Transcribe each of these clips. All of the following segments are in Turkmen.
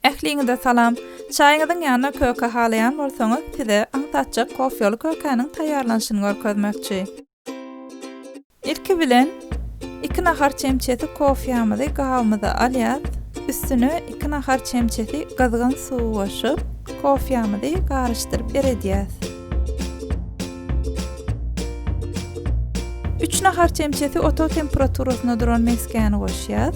Ähliňize salam! Çaýyňyzyň ýanyna köke halaýan bolsaňyz, size aňsatjak kofýaly kökäniň taýýarlanyşyny görkezmekçi. Ilki bilen, iki nahar çemçesi kofýamyzy gabymyza alýas, üstüne iki nahar çemçesi gyzgyn suwy goşup, kofýamyzy garyşdyryp eredýäs. Üç nahar çemçesi otag temperaturasynda duran mesgäni goşýas,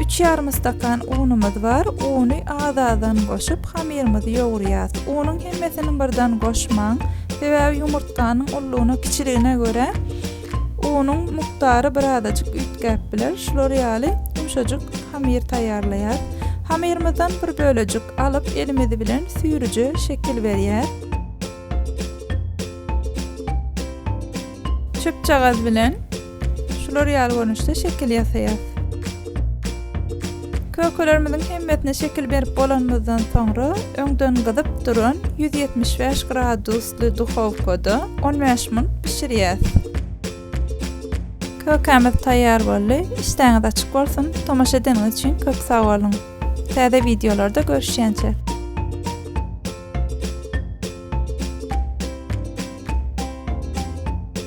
Üç ýarym stakan unumyz bar. Uny az-azdan goşup, hamyrymyzy ýogurýas. Unuň hemmesini birden goşmaň. Sebäbi ýumurtganyň ullugyna, kiçiligine görä unuň mukdary birazajyk üýtgäp biler. Şular ýaly ýumşajyk hamyr taýýarlaýas. Hamyrymyzdan bir bölejik alyp, elimiz bilen süýrüje şekil berýäs. Çöpjagaz bilen. Şular ýaly görnüşde şekil ýasaýas. Kökelerimiziň hemmesine şekil berip bolanymyzdan soňra, öňden gyzyp duran ýüz ýetmiş bäş gradusly duhowkada on bäş minut bişirýäs. Kökämiz taýýar boldy. Işdäňiz açyk bolsun! Tomaşa edeniňiz üçin köp sag boluň! Täze wideolarda görüşýänçä!